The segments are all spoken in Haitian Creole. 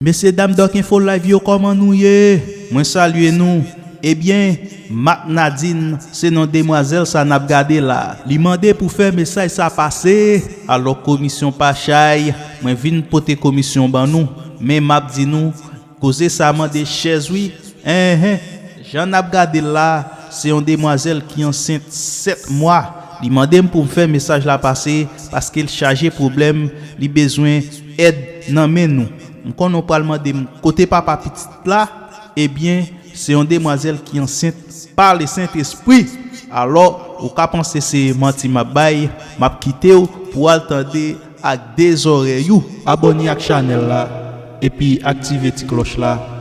Mesye dam Doc Info Live yo kòman nou ye? Mwen salye nou. Ebyen, Mak Nadin, se non demwazèl sa n ap gade la. Li mande pou fè mesaj sa pase, alò komisyon pa chay, mwen vin pote komisyon ban nou. Men m ap di nou, koze sa mande chèz wi. Enhen! Jan n ap gade l la, se yon demwazèl ki ansent 7 mwa. Li mande m pou m fè mesaj la pase, paske l chaje pwoblèm, li bezwen. èd nan men nou. M konnen w pral mande m kote papa pitit la, ebyen se yon demwazèl ki ansent pa Lesentespri. Alò, ou ka panse se manti m ap bay, m ap kite w pou w al tande ak de zòrèy ou. Abòne ak chanèl la epi aktive ti klòch la.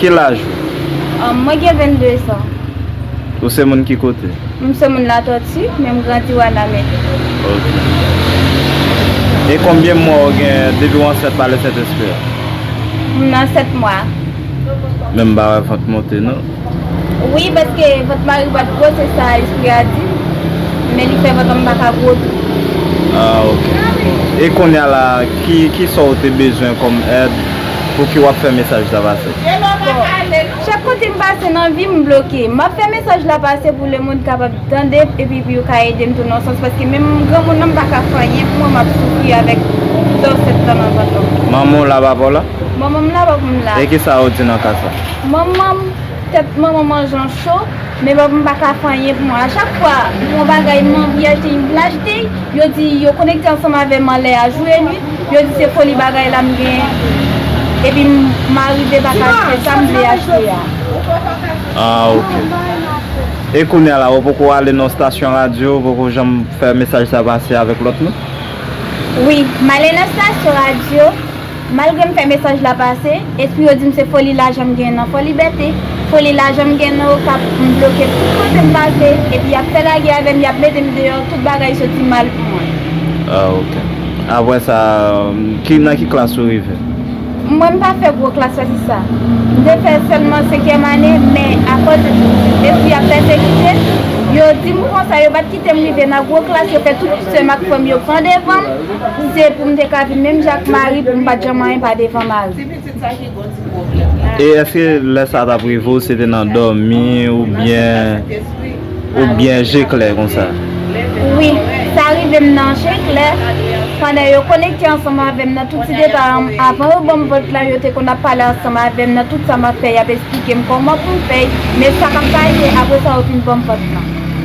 Ki laj ou? Mwen gen 22 zan. Ou se moun ki kote? M se moun Latòti, men m grandi Wanament. Ok. E konbyen mwa ou gen depi ou ansent pa Le Sent Espri a? M nan 7 mwa. Men m pa wè vant monte non. Wi, paske vant mari m pa t gwo, se sa Espri a di m. Men li fè vant an m pa ka gwo tou. Ah ok. E konnya la, ki sa ou te bezwen kòm èd? Pouki wap fè mesaj sa pase? Bon, chak kote m pase nan vi m bloke. M ap fè mesaj la pase pou lemonn kapab tande epi pou yo ka ede m tou nan yon sans paske menm granmoun nan m pa ka fè anyen pou mwen m ap soufri avèk dò 7 tan nan vant mwen. Manman w la papa w la? Manman m la papa m la. E kisa ou di nan ka sa? Manman m, tèt manman m an jan cho, men papa m pa ka fè anyen pou mwen. A chak fwa m wè yon bagay m anvi achte m vle achte l. Yo di yo konekte ansanm avèm anlè a jou e nwit, yo di se foli bagay la m gen epi m arive pa ka achte sa m vle achte a. Ah ok. E kounya la ou poko ale nan yon stasyon radyo, ou poko janm fè mesaj sa pase avèk lòt moun? Wi, m ale nan stasyon radyo. Malgre m fè mesaj la pase, espri yo di m se foli lajan m gen nan Fòlibète, foli lajan m gen nan Okap, m bloke tout kote m pase, epi y ap fè lagè avè m, y ap mete m deyò, tout bagay soti mal pou mwen. Ah ok. Apre sa, ki nan ki klas ou rive? Mwen m pa fè gwo klas pase sa. M te fè sèlman senkyèm ane, men akòz espri ap pèsekite, yo di m konsa, yo pa t kite m rive nan gwo klas, yo fè tout sè m ak frè m yo pran devan m, Se pou m te ka viv menm jan ak Mari pou m pa t janm anyen pa devan Mari. E èske lè sa t ap rive w se te nan dòmi oubyen ou byen je klè konsa? Wi, sa rive m nan je klè pandan yo konekte ansanm avè m nan tout ti detay an. Avan yo ban m vant la yo te konn ap pale ansanm avè m nan tout sa m ap fè y ap esplike m kòman pou m fè y men sa k ap pase apre sa yo fin ban m vant lan.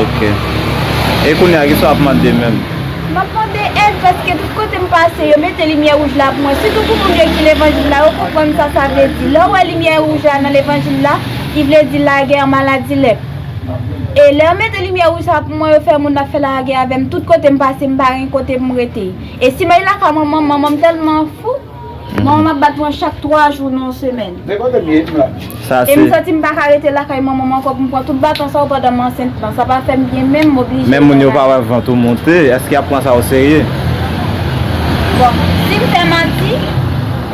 Ok. E kounye a kisa w ap mande menm? M ap mande èd paske tout kote m pase yo mete limyè wouj la pou mwen. Sitou pou moun yo ki levanjil la yo konprann sa sa vle di. Lè w wè limyè wouj la nan levanjil la ki vle di lagè, maladi, lèp. E lè yo mete limyè wouj sa pou mwen yo fè moun ap fè lagè avè m tout kote m pase m pa gen kote pou m rete. E si m al lakay manman m manman m tèlman fou. Manman map bat mwen chak 3 jou nan yon semèn. E m santi m paka rete lakay manman m ankò pou m pran tout baton sa yo pandan m ansent lan. Sa pa fè m byen menm, m oblije fè l. Men moun yo pa wè vant ou monte, èske y ap pran sa oserye? Bon, si m fè manti,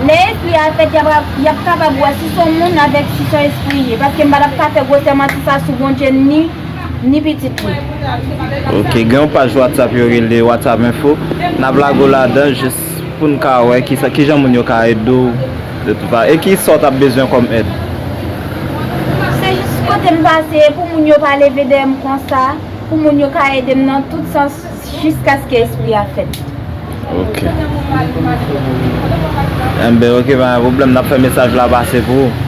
lè espri a fèt y ap kapab wè si s on moun avèk si s on espri l ye. Paske m pa t ap ka fè gwosè manti sa sou Bondye m ni pitit li. Ok, gen yon paj whatsapp yo rele whatsapp info, n ap lage w ladan jis. Pou n ka wè ki sa, ki jan moun yo ka ede w de tout va e ki sa w t ap bezwen kòm èd. Se jis kote m pase e pou moun yo pa leve dèyè m konsa, pou moun yo ka ede m nan tout sans jiskaske espri a fèt. Ok. Enben ok, pa gen pwoblèm, n ap fè mesaj la pase pou ou.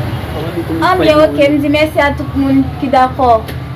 Anben ok, m di mèsi a tout moun ki dakò.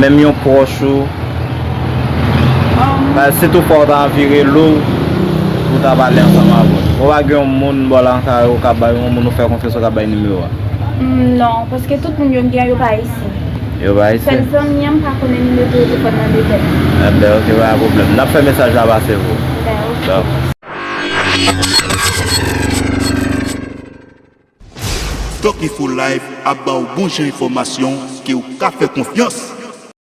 Menm yon pwòch ou, si tou fwa ou ta vire lo pou ta pale ansanm avè l. Ou pa gen yon moun bò lakay ou ka bay, yon moun ou fè konfyans ou ka bay nimewo a? Non, paske tout moun yo m gen an yo pa ayisyen. Yo pa ayisyen? Sèl zanmi an m pa konnen nimewo telefòn nan de tèt. Enben ok, pa gen pwoblèm. N ap fè mesaj la pase pou ou. Ben ok. Doc Info Live ap ba w bon jan enfòmasyon ke w ka fè konfyans.